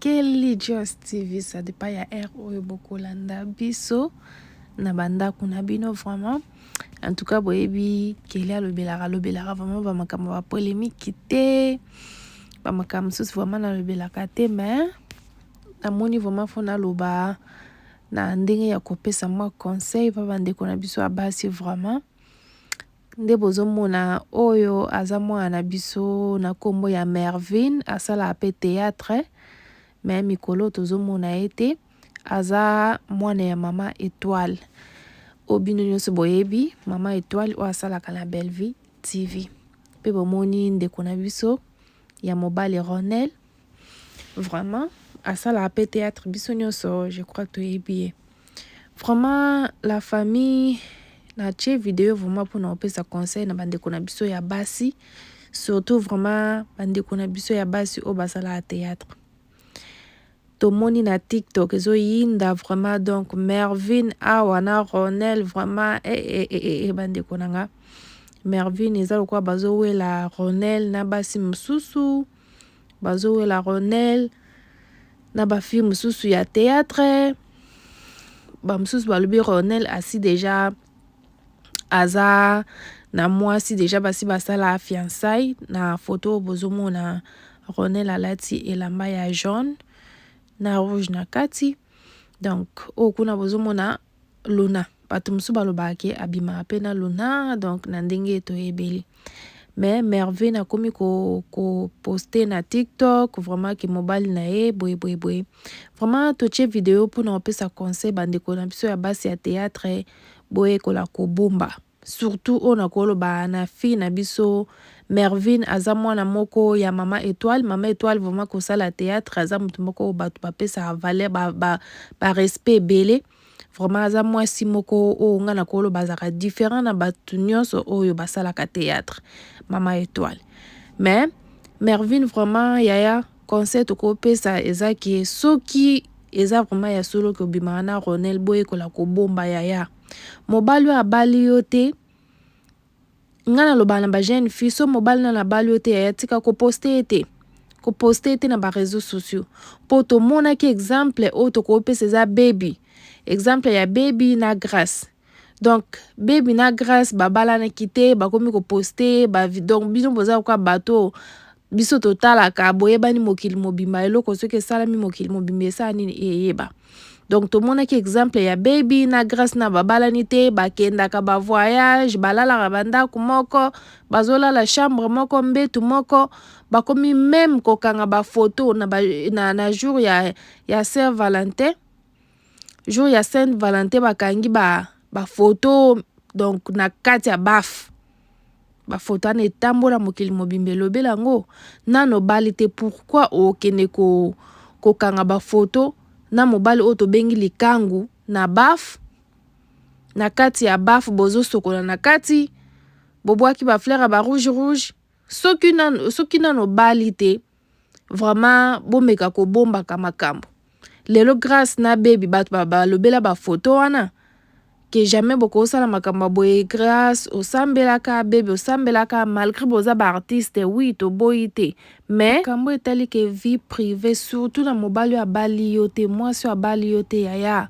Kelly Joss TV ça dépend ya heure oyo bokolanda biso na bandako na bino vraiment en tout cas boyebi Kelly alobelaka alobelaka vraiment bamakambo ba polémique te bamakambo mosusu vraiment nalobelaka te mais namoni vraiment fo naloba na ndenge ya kopesa mwa conseil mpo bandeko na biso ya basi vraiment Nde bozo mona oyo aza mwana na biso na kombo ya Mervine asalaka pe theatre mais mikolo tozo mona ye te aza mwana ya mama Etoile oyo bino nionso boyebi mama Etoile oyo asalaka na Bellevue TV pe bomoni ndeko na biso ya mobali Ronel vraiment asala pe théâtre biso nyonso je crois toyebi ye vraiment la famille natie video vraiment mpona kopesa conseil na bandeko na biso ya basi surtout vraiment bandeko na biso ya basi oyo basalaka théâtre tomoni na tiktok ezoyinda vraiment donc mervine awa na ronel vraiment e eh, e eh, e eh, e bandeko na nga mervine eza lokola bazowela ronel na basi mosusu mm. bazowela ronel na bafilme mosusu ya théâtre bamosusu balobi ronel asi deja aza na mwasi deja basi basala fiançai na foto oyo bozomona ronel alati elamba ya jaune na rouge na kati donc oyo kuna bozomona Luna bato mosusu balobaka ke abimaka mpe na Luna donc na ndenge toyebeli mais Merveille nakomi koposte ko na TikTok vraiment ke mobali na ye boye boye boye vraiment totie video mpo na kopesa conseil bandeko na biso ya basi ya théâtre boyekola kobomba Surtout oyo nako loba na fille na biso Mervine aza mwana moko ya maman Etoile, maman Etoile vraiment ko sala theatre aza mutu moko oyo batu ba pesaka valeur ba ba, ba respect ebele. Vraiment aza mwasi moko oyo nga nako loba azaka different na batu nionso oyo ba salaka theatre maman Etoile. Mais Mervine vraiment yaya conseil toko pesa eza ke soki eza vraiment ya solo ke obimaka na Ronel boyekola kobomba yaya. mobali oyo abali yo te nga nalobaka na ba jeune fille so mobali nano abali yo te yaya tika koposte ye te koposte ye te na ba réseaux sociaux mpo tomonaki exemple oyo tokoki pesa eza baby exemple ya baby na grace donc baby na grace babalanaki te bakomi koposte ba donc bino boza koka bato oyo biso totalaka boyebani mokili mobimba eloko soki esalami mokili mobimba esala nini eyeba donc tomonaki exemple ya baby na grace na babalani te bakendaka bavoyage balalaka bandako moko bazolala chambre moko mbetu moko bakomi meme kokanga bafoto na, ba, na, na jour ya, ya saint valentin jour ya saint valentin bakangi bafoto ba donc na kati ya bafe bafoto wana etambola mokili mobimba elobela yango nano bali te pourquoi okende ko kokanga bafoto na mobali oyo tobengi likangu na baf na kati ya baf bozosokola na kati bobwaki bafleur ya barouge rouge soki nano, soki nano bali te vraiment bomeka kobombaka makambo lelo grace na baby bato balobela bafoto wana ke jamais bokosala makambo boye grace osambelaka baby osambelaka malgré boza baartiste wi toboyi te mais makambo etali ke vie privée surtout na mobali oyo abali yo te mwasi oyo abali yo te yaya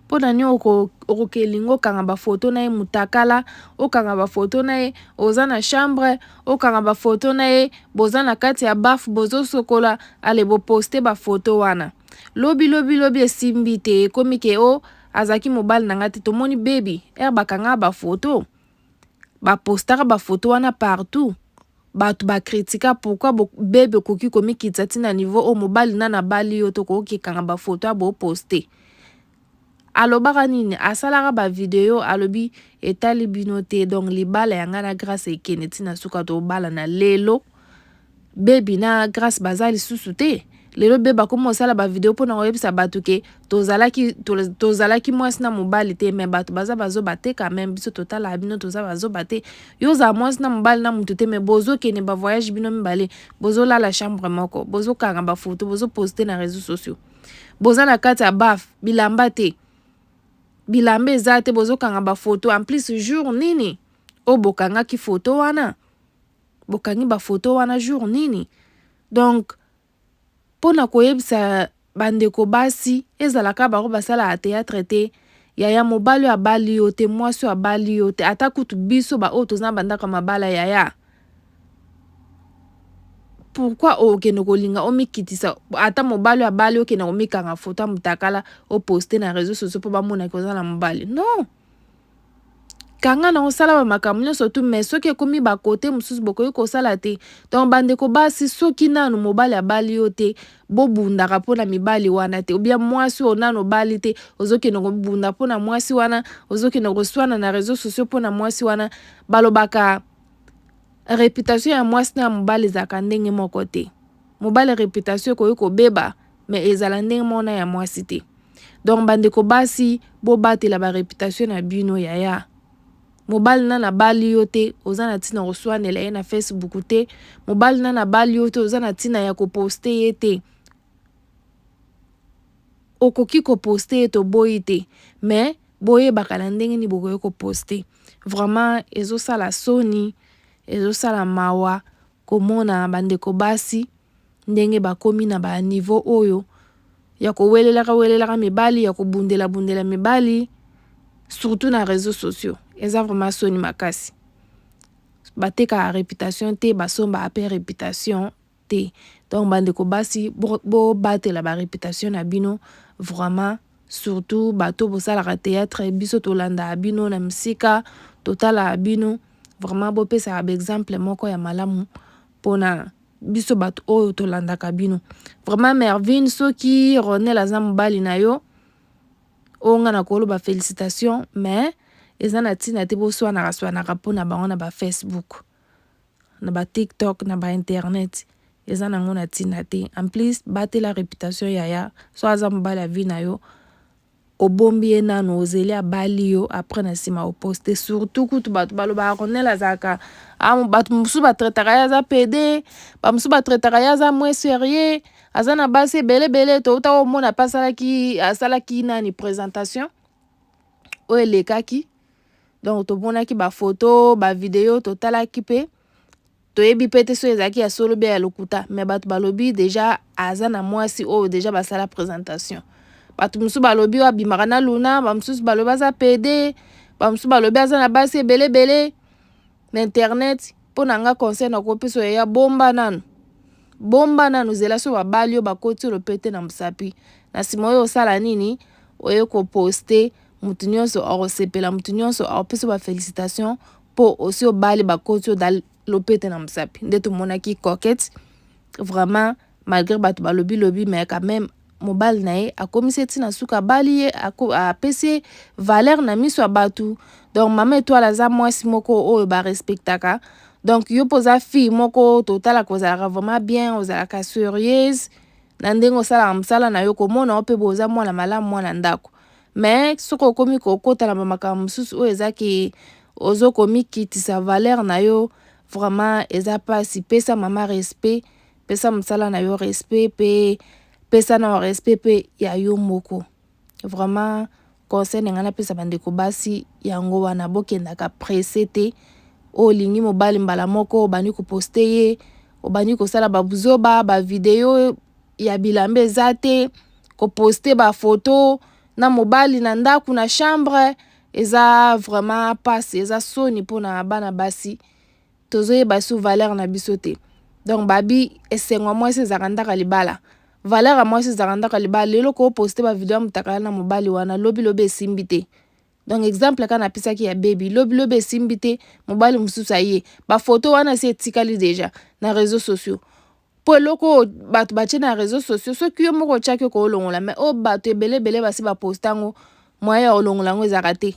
mpo na nini okokelinga okanga bafoto na ye mutakala okanga bafoto na ye oza na chambre okanga ba photo na ye boza na kati ya baf bozo sokola ale bo poste ba photo wana lobi lobi lobi esimbi te ekomi ke o azaki mobali na nga te tomoni baby er bakanga ba photo ba postaka ba photo wana partout bato ba critika pourquoi bo bebe okoki komikitisa ti na niveau oyo mobali na nabali yo to koki kanga ba photo ya bo poste Alobaka nini? Asalaka ba video alobi etali bino te donc libala ya ngai na Grace ekende ti na suka tobalana lelo bebi na Grace baza lisusu te lelo bebe akomi kosala ba video mpo na koyebisa bato ke tozalaki tozalaki mwasi na mobali te me bato baza bazoba te quand même biso totalaka bino toza bazoba te yo ozala mwasi na mobali na motu te me bozokende ba voyage bino mibale bozolala chambre moko bozokanga bafoto bozoposte na réseau sociaux boza na kati ya baf bilamba te bilamba eza te bozokanga bafoto en plus jour nini oyo bokangaki foto wana bokangi bafoto wana jour nini donc mpo na koyebisa bandeko basi ezalaka bango basalaka teatre te yaya mobali oyo abali yo te mwasi oyo abali yo te ata kutu biso baoyo toza na bandako ya mabala yaya pourquoi okende kolinga omikitisa ata mobali abali okende komikanga foto ya motakala oposte na réseau sociaux mpo bamonaki oza na mobali non kanga na osala bamakambo nyonso tu mais soki ekomi bakote mosusu bokoki kosala te donc bandeko basi soki nanu mobali abali yo te bobundaka mpo na mibali wana te obia mwasi oyo nanu obali te ozokende kobunda mpo na mwasi wana ozokende koswana na réseau sociaux mpo na mwasi wana balobaka reputation ya mwasi na ya mobali ezalaka ndenge moko te mobali reputation ekoki kobeba mais ezala ndenge moko na ya mwasi te donc bandeko basi bobatela ba reputation na bino yaya mobali na nabali yo te oza na ntina koswanela ye na facebook te mobali na nabali yo te oza na ntina ya koposte ye te okoki ko poste ye toboyi te mais boyebaka na ndenge nini bokoki ko poste vraiment ezosala soni ezosala mawa komona bandeko basi ndenge bakomi na ba niveau oyo ya kowelelaka welelaka mibali ya kobundela bundela mibali surtout na reseaux sociaux eza vraiment soni makasi batekaka reputation te basombaka pe reputation te donc ba ndeko basi bo batela ba reputation na bino vraiment surtout bato bosalaka theatre biso tolanda bino na misika totala bino vraiment bopesa ba exemple moko ya malamu pona biso bato oyo tolandaka bino vraiment mervine soki ronel aza mobali na yo oyo nga nakoloba felicitation mais eza na ntina te boswanaka swanaka mpo na bango na ba facebook na ba tiktok na ba internet eza nango na tina te en plus batela reputation yaya so aza mobali ya vie na yo obombi ye nanu ozeli abali yo après na nsima oposte surtout kutu bato balobaka cornel azalaka ah, bato mosusu batraitaka ye aza pede bamosusu batraitaka ye aza moins serieux aza na basi ebele ebele touta komona mpe asalaki asalaki nani présentation oyo elekaki donc tomonaki bafoto bavideo totalaki mpe toyebi mpe te soki ezalaki ya solo bia ya lokuta me bato balobi deja aza na mwasi oyo deja basala présentation bato mosusu balobi oyo abimaka na luna bamosusu balobi aza pede bamosusu balobi aza na basi ebele ebele na internet mpo na nga conseil na kopesa oyo ya bomba nanu bomba nanu zela so babali yo bakoti yo lopete na mosapi na nsima oyo osala nini oye koposte motu nyonso akosepela motu nyonso akopesa ba felicitation mpo osi obali bakoti yo dal lopete na mosapi nde tomonaki coquette vraiment malgre bato balobi lobi mais quand même mobali na ye akomisi ye ntina suka abali ye apesi ye valeur na miso ya bato donc mama etoile aza mwasi moko oyo barespectaka donc yo mpo oza fille moko totalaka ozalaka vraiment bien ozalaka serieuse na ndenge osalaka mosala na yo komona yo mpe boza mwana malamu mwana ndako mais soki okomi kokota na bamakambo mosusu oyo eza ke ozo komikitisa valeur na yo vraiment eza mpasi pesa mama respect pesa mosala na yo respect pe pesa na respect pe ya yo moko vraiment conseil na ngai napesa bandeko basi yango wana bokendaka presse te olingi mobali mbala moko obandi koposte ye obandi kosala babuzoba bavideo ya bilamba eza te koposte bafoto na mobali na ndako na chambre eza vraiment mpasi eza soni mpona bana basi tozoyeba su valeur na biso te donc babi esengo ya mwasi ezalaka ndaka libala valeur ya mwasi ezalaka ndaka libala lelo ko poste ba video ya mutakala na mobali wana lobi lobi esimbi te donc exemple kaka napisaki ya baby lobi lobi esimbi te mobali mosusu aye ba photo wana si etikali deja na réseaux sociaux mpo eloko oyo bato batye na reseau sociaux soki yo moko otyaki okoki olongola mai oyo bato ebele ebele basi baposta yango moye ya kolongola yango ezalaka te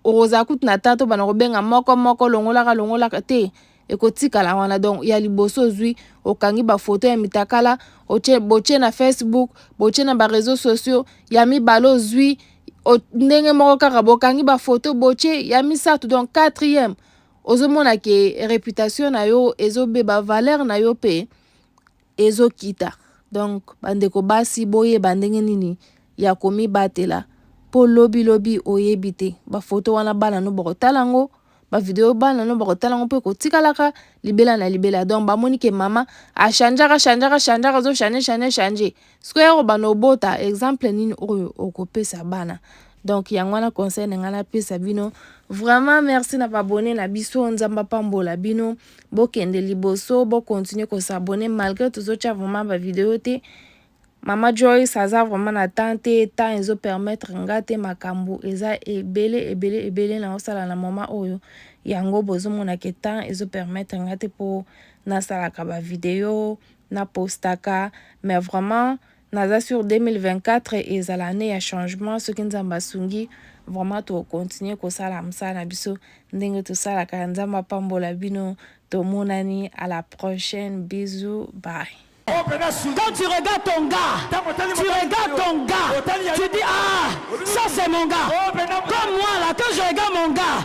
okozala kutu na tata obana kobenga moko moko longolaka longolaka te ekotikala wana donc ya liboso ozwi okangi bafoto ya mitakala otye botye na facebook botye na bareseau sociaux ya mibale ozwi ndenge moko kaka bokangi bafoto botye ya misato donc quatrième ozo mona ke reputation na yo ezo beba valeur na yo pe ezo kita donc bandeko basi boyeba ndenge nini ya komibatela po lobi lobi oyebi te ba photo wana bana no bakotala yango ba video bana no bakotala yango pe kotikalaka libela na libela donc bamoni ke mama achangeaka changeaka changeaka zo change change change, change. Sikoyo bana obota exemple nini oyo okopesa bana donc yango wana conseil na ngai napesa bino vraiment merci na babone na biso nzambe apambola bino bokende liboso bokontinue kosabone malgré tozotya vraiment bavideo te mama joyce aza vraiment na temps te temps ezopermettre nga te makambo eza ebele ebele ebele naosala na mama oyo yango bozomonake temps ezopermettre nga te mpo nasalaka bavideo Na postaka mais vraiment naza sur 2024 ezala annee ya changement soki nzambe asungi vraiment toko continuer kosala musala na biso ndenge tosalaka nzambe apambola bino tomonani à la prochaine bisous bye. Quand tu regardes ton gars, tu regardes ton gars, tu dis ah ça c'est mon gars, comme moi là quand je regarde mon gars,